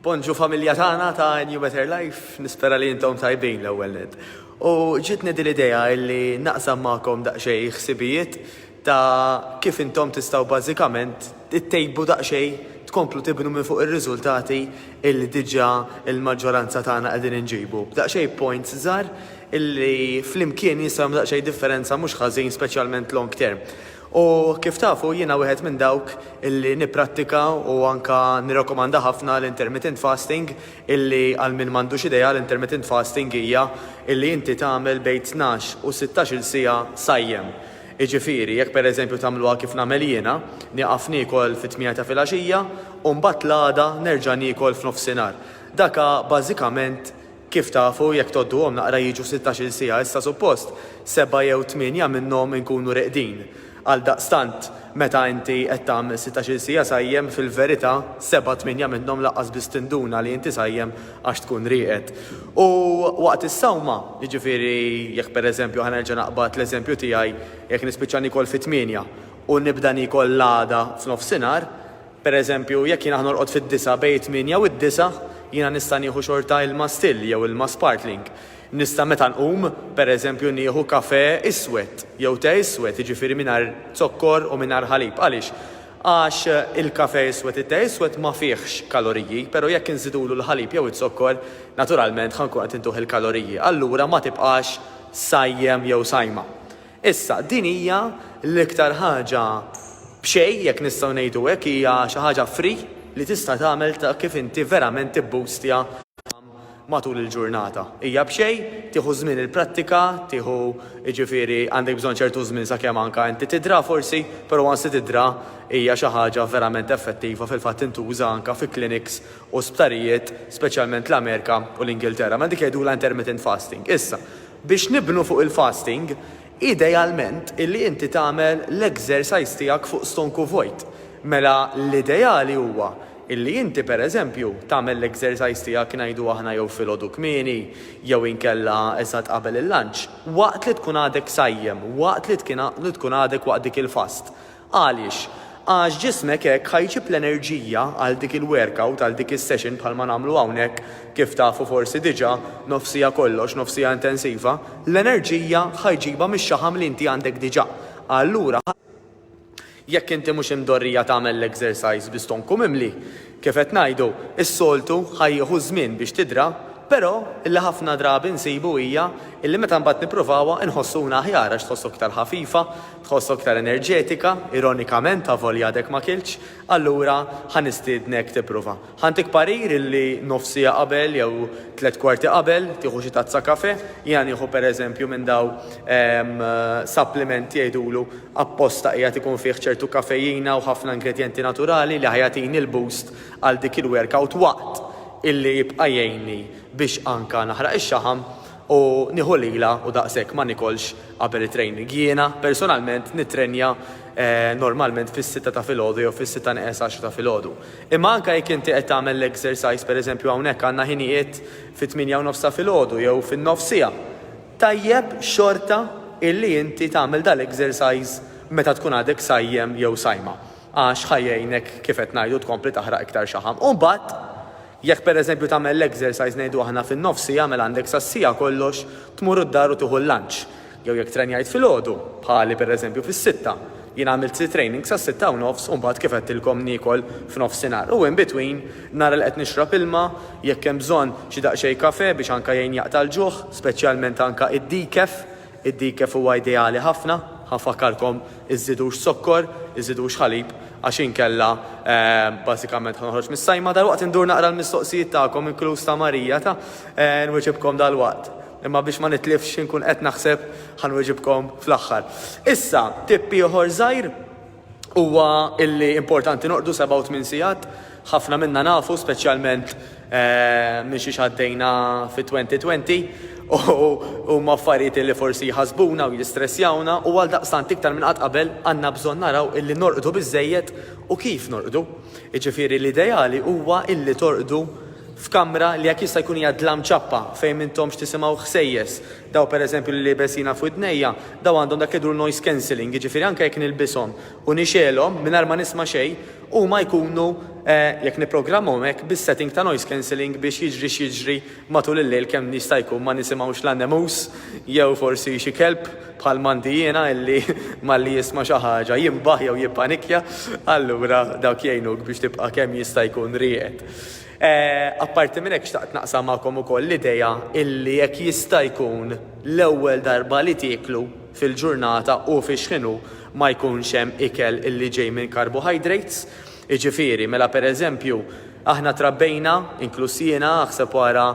Bonġu familja tagħna ta' New Better Life, nispera li intom tajbin l-ewwel net. U ġitni din l-idea illi naqsam magħkom daqsxejn ħsibijiet ta' kif intom tistgħu bażikament ittejbu daqsxejn tkomplu tibnu minn fuq ir-riżultati illi diġà l-maġġoranza tagħna qegħdin inġibu b'daqsxejn points żgħar illi flimkien jistgħu jagħmlu daqsxejn differenza mhux ħażin speċjalment long term. U kif tafu, jiena wieħed minn dawk illi nipprattika u anke nirrakkomanda ħafna l-intermittent fasting illi għal min m'għandux idea l-intermittent fasting hija illi inti tagħmel bejn tnax u sittax-il siegħa sajjem. Jiġifieri, jekk per eżempju tagħmluha kif nagħmel jiena, nieqaf niekol fit-tmiegħa ta' filgħaxija u mbagħad l-għada nerġa' niekol f'nofsinhar. Dak hu bażikament Kif tafu, jekk tgħodduhom naqra jiġu sittax-il siegħa issa suppost sebgħa jew tmienja minnhom inkunu reqdin. Għaldaqstant, meta inti qed tagħmel sittax-il siegħa sajjem, fil-verità sebgħa tmienja minnhom lanqas biss tinduna li inti sajjem għax tkun rieqed. U waqt is-sawma, jiġifieri jekk pereżempju, ħa nerġa' naqbad l-eżempju tiegħi, jekk nispiċċa niekol fit-tmienja u nibda niekol l-għada f'nofsinhar, Per eżempju, jekk jiena norqod fid-disgħa bejn it-tmienja u d-disgħa, jiena nista' nieħu xorta ilma still jew ilma sparkling. Nista' meta nqum, per eżempju, nieħu kafè iswed jew te iswed, jiġifieri mingħajr zokkor u mingħajr ħalib. Għaliex? Għax il-kafè iswed, it-te iswed ma fihx kaloriji, però jekk inżidulu l-ħalib jew iz-zokkor, naturalment ħa nkun qed intuh il-kaloriji. Allura ma tibqax sajjem jew sajma. Issa, din hija l-iktar ħaġa b'xejn, jekk nistgħu ngħidu hekk, hija xi ħaġa free li tista' tagħmel ta' kif inti verament tibboostja matul il-ġurnata. Hija b'xejn, tieħu żmien il-prattika, tieħu, jiġifieri għandek bżonn ċertu żmien sakemm anke inti tidra forsi, però once tidra hija xi ħaġa verament effettiva, fil-fatt tintuża anke fi clinics u sptarijiet, speċjalment l-Amerika u l-Ingilterra, mela dik jgħidulha intermittent fasting. Issa, biex nibnu fuq il-fasting, idealment illi inti tagħmel l-exercise tiegħek fuq stonku vojt. Mela l-ideali huwa illi inti pereżempju tagħmel l-exercise tiegħek ngħidu aħna jew filgħodu kmieni jew inkella eżatt qabel il-lunch, waqt li tkun għadek sajjem, waqt li tkun għadek waqt dik il-fast. Għaliex? Għax ġismek hekk ħa jġib l-enerġija għal dik il-workout, għal dik is-session bħalma nagħmlu hawnhekk, kif tafu forsi diġà, nofsija kollox, nofsija intensiva, l-enerġija ħa jġibha mix-xaħam li inti għandek diġà. Allura, jekk inti mhux imdorrija tagħmel l-exercise bi stonku mimli, kif qed ngħidu, is-soltu ħa jieħu ż-żmien biex tidra, però li ħafna drabi nsibu hija li meta mbagħad nippruvawha nħossuna aħjar għax tħossok iktar ħafifa, Tħoss aktar enerġetika, ironikament, avolja għadek ma kiltx? Allura, ħa nistiednek tipprova. Ħa ntik parir illi nofs siegħa qabel jew tliet kwarti qabel tieħu xi tazza kafè. Jiena nieħu per eżempju minn daw supplements jgħidulu apposta qiegħed ikun fih ċertu kafejina u ħafna ingredjenti naturali li ħa jagħtini l-boost għal dik il-workout waqt illi jibqa' jgħinni biex anka naħraq ix-xaħam. U nieħu lilha u daqshekk ma niekolx qabel it-training. Jiena, personalment, nittrenja normalment fis-sitta ta' filgħodu jew fis-sitta neqes għaxra ta' filgħodu. Imma anke jekk inti qed tagħmel l-exercise, pereżempju hawnhekk għandna ħinijiet fit-tmienja u nofs ta' filgħodu jew fin-nofs siegħa, tajjeb xorta illi inti tagħmel dal-exercise meta tkun għadek sajjem jew sajma għax ħa jgħinek kif qed ngħidu tkompli taħraq iktar xaħam. U mbagħad. Jekk pereżempju tagħmel l-exercise ngħidu aħna fin-nofs siegħa mela għandek sas-siegħa kollox tmur d-dar u tieħu l-lunch. Jew jekk trenjajt filgħodu, bħali pereżempju fis-sitta, jien għamilt xi training sas-sitta u nofs u mbagħad kif għedtilkom niekol f'nofsinhar u in between nara li qed nixrob ilma, jekk hemm bżonn xi daqsxejn kafè biex anke jgħin jaqta' l-ġuħ, speċjalment anke d-decaf, Id-dikef huwa ideali ħafna, ħa nfakkarkom, iżżidux zokkor, iżżidux ħalib għax inkella bażikament ħa noħroġ mis-sajma. Dalwaqt indur naqra l-mistoqsijiet tagħkom inkluż ta' Marija ta', nwieġibkom dalwaqt. Imma biex ma nitlifx x'inkun qed naħseb ħa nwieġibkom fl-aħħar. Issa, tipp ieħor żgħir. huwa illi importanti norqdu seba' u tmien sigħat. Ħafna minna nafu, speċjalment minn xiex għaddejna fit-2020, u huma affarijiet illi forsi jħassbuna u jistressjawna u għaldaqstant iktar minn qatt qabel għandna bżonn naraw illi norqdu biżżejjed u kif norqdu. Jiġifieri l-ideali huwa illi torqdu f'kamra li jekk jista' jkun hija dlam ċappa fejn m'intomx tisimgħu ħsejjes, Daw pereżempju li libes jiena f'widnejja, daw għandhom dak li jgħidulu noise cancelling, jiġifieri anke jekk nilbishom u nixgħelhom mingħajr ma nisma' xejn, huma jkunu, jekk nipprogrammahom hekk, bis-setting ta' noise cancelling biex jiġri x'jiġri matul il-lejl kemm jista' jkun ma nisimgħux la nemus jew forsi xi kelb bħal m'għandi jiena illi malli jisma' xi ħaġa jinbaħ jew jippanikja. Allura dawk jgħinuk biex tibqa' kemm jista' jkun rieqed. Apparti minn hekk xtaqt naqsam magħkom ukoll l-idea illi jekk jista' jkun l-ewwel darba li tieklu fil-ġurnata u fix-xħinu ma jkunx hemm ikel illi ġej minn carbohydrates, jiġifieri mela per eżempju aħna trabbejna, inkluż jiena, aħseb u ara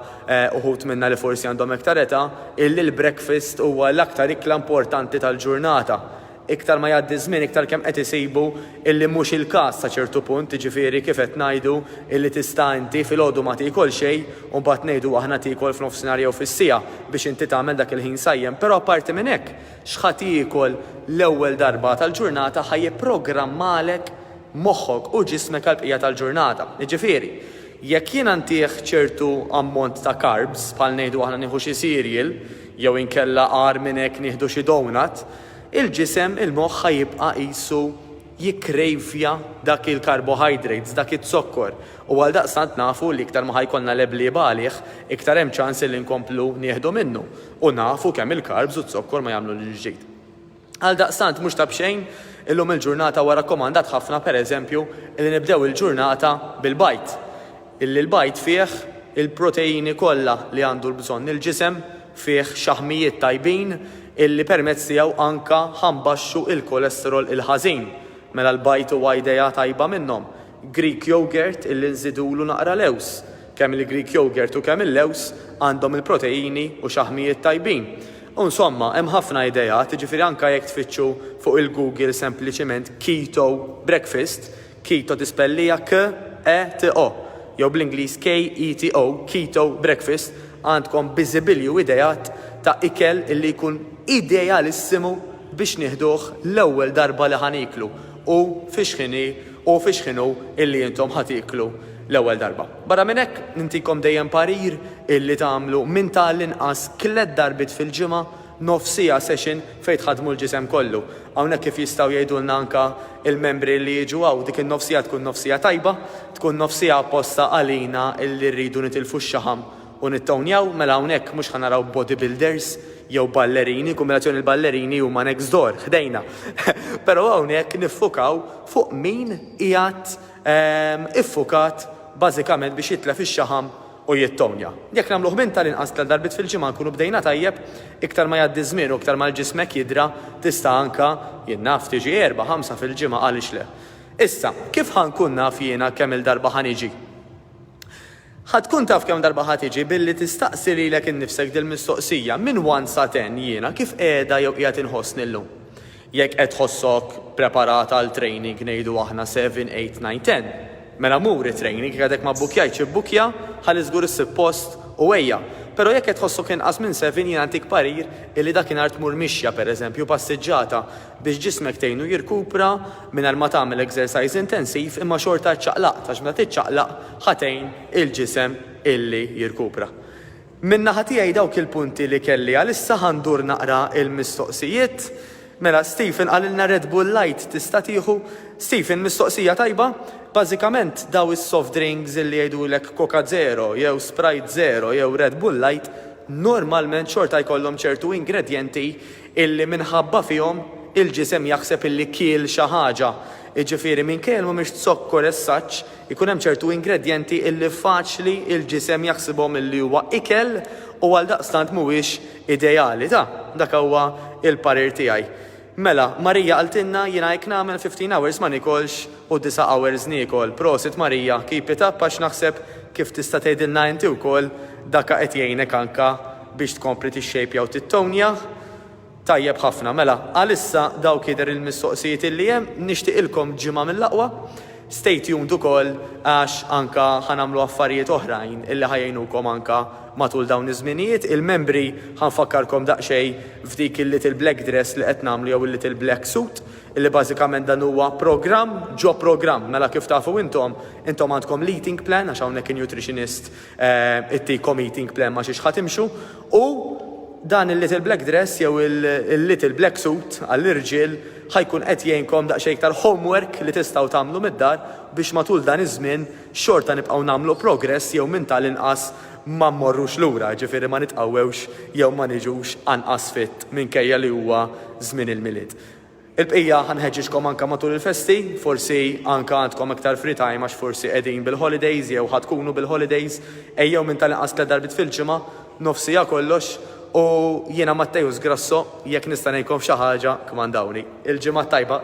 uħud minna li forsi għandhom iktar età, illi l-breakfast huwa l-aktar ikla importanti tal-ġurnata. Iktar ma jgħaddi ż-żmien iktar kemm qed isibu illi mhux il-każ sa ċertu punt, jiġifieri kif qed ngħidu illi tista' inti filgħodu ma tiekol xejn u mbagħad ngħidu aħna tiekol f'nofsinhar jew fis-siegħa biex inti tagħmel dak il-ħin sajjem. Però apparti minn hekk, x'ħa tiekol l-ewwel darba tal-ġurnata ħa jipprogrammalek moħħok u ġismek għall-bqija tal-ġurnata. Jiġifieri, jekk jiena ntih ċertu ammont ta' carbs, bħal ngħidu aħna nieħu xi cereal jew inkella agħar minn hekk nieħdu xi donut, il-ġisem, il-moħħ ħa jibqa' qisu jikkrejvja dak il-carbohydrates, dak iz-zokkor, u għaldaqstant nafu li iktar ma ħa jkollna leblieb għalih, iktar hemm ċans illi nkomplu nieħdu minnu, u nafu kemm il-carbs u z-zokkor ma jagħmlu lil ġdid. Għaldaqstant mhux ta' b'xejn illum il-ġurnata huwa rakkomandat ħafna per eżempju illi nibdew il-ġurnata bil-bajd, illi l-bajd fih il-proteini kollha li għandu l-bżonn il-ġisem, fih xaħmijiet tajbin illi permezz tiegħu anka ħa nbaxxu l-cholesterol il-ħażin, mela l-bajd huwa idea tajba minnhom. Greek yoghurt illi nżidulu naqra lewż, kemm il-Greek yoghurt u kemm il-lewż għandhom il-proteini u xaħmijiet tajbin. U nsomma, hemm ħafna ideat, jiġifieri anka jekk tfittxu fuq il-Google sempliċiment keto breakfast, Keto Dispellija KETO, jew bl-Ingliż KETO, Keto Breakfast, għandkom biżibilju ideat ta' ikel li jkun idealissimu biex nieħduh l-ewwel darba li ħa nieklu u fi xħin hi u fi xħin hu li intom ħa tieklu l-ewwel darba. Barra minn hekk, nintikom dejjem parir li tagħmlu minn ta' l-inqas tliet darbiet fil-ġimgħa Nofs siegħa session fejn tħaddmu l-ġisem kollu. Hawnhekk kif jistgħu jgħidulna anke l-membri li jiġu hawn, dik in-nofs siegħa tkun nofs siegħa tajba, tkun nofs siegħa apposta għalina li rridu nitilfu x-xaħam u nittownjaw, mela hawnhekk mhux ħa naraw body builders jew ballerini, kumbinazzjoni l-ballerini huma next door, ħdejna, però hawnhekk niffukaw fuq min qiegħed iffukat bażikament biex jitlef ix-xaħam u jittonja. Jekk nagħmluh minn tal-inqas tliet darbiet fil-ġimgħa nkunu bdejna tajjeb, iktar ma jgħaddi ż-żmien u iktar ma l-ġismek jidra tista' anke, jien naf, tiġi erbgħa, ħamsa fil-ġimgħa għaliex le. Issa, kif ħa nkun naf jiena kemm-il darba ħa niġi? Ħa tkun taf kemm darba ħa tiġi billi tistaqsi lilek innifsek dil-mistoqsija, minn one sa ten jiena kif qiegħda jew qiegħed inħossni llum? Jekk qed tħossok preparat għal training ngħidu aħna seven, eight, nine, ten, mela mur it-training, jekk għadek ma bbukkjajtx ibbukkja ħalli żgur issib post u ejja. Però jekk qed tħossok inqas minn seven jiena ntik parir illi dakinhar tmur mixja pereżempju, passiġġata, biex ġismek tgħinu jirkupra mingħajr ma tagħmel exercise intensiv imma xorta ċċaqlaqt għax meta tiċċaqlaq ħa tgħin il-ġisem illi jirkupra. Min-naħa tiegħi dawk il-punti li kelli għalissa ħa ndur naqra l-mistoqsijiet. Mela Stephen qalilna Red Bull Light tista' tieħu. Stephen mistoqsija tajba. Bażikament daw is-soft drinks illi jgħidulek Coca Zero jew Sprite Zero jew Red Bull Light normalment xorta jkollhom ċertu ingredjenti illi minħabba fihom il-ġisem jaħseb illi kiel xi ħaġa. Jiġifieri minkejja li mhumiex zokkor as such Ikun hemm ċertu ingredjenti illi faċli il-ġisem jaħsibhom illi huwa ikel u għaldaqstant mhuwiex ideali. Ta, dak huwa il-parir tiegħi. Mela, Marija qaltilna jiena hekk nagħmel fifteen hours ma niekolx u disa' hours niekol. Prosit Marija, keep it up għax naħseb kif tista' tgħidilna inti wkoll daka qed jgħinek anka biex tkompli tixxejpja u tittownja. Tajjeb ħafna, mela għalissa dawk jidher il-mistoqsijiet illi hemm, nixtieqilkom ġimgħa mill-aqwa, stay tuned ukoll għax anke ħa nagħmlu affarijiet oħrajn illi ħa jgħinukom anke matul dawn iż-żminijiet. Il-membri ħa nfakkarkom daqsxejn f'dik il-little black dress li qed nagħmlu jew il-little black suit illi bażikament dan huwa programm ġo programm, mela kif tafu intom, intom għandkom l-eating plan għax hawnhekk in-nutritionist it-Tiko Meeting Plan ma xiex ħa timxu u dan il-Little Black Dress jew il-Little Black Suit għall-irġiel ħa jkun qed jgħinkom daqsxejn iktar homework li tistgħu tagħmlu mid-dar biex matul dan iż-żmien xorta nibqgħu nagħmlu progress jew minn tal-inqas ma mmorrux lura, jiġifieri ma nitqawwewx jew ma niġux anqas fit minkejja li huwa żmien il-Milied. Il-bqija ħa nħeġġiġkom anke matul il-festi, forsi anke għandkom iktar free time għax forsi qegħdin bil-holidays jew ħa tkunu bil-holidays, ejjew minn tal-inqas tliet darbiet fil-ġimgħa, nofs siegħa kollox, u jiena Matteus Grasso, jekk nista' ngħinkom f'xi ħaġa kmandawni. Il-Ġimgħa t-Tajba!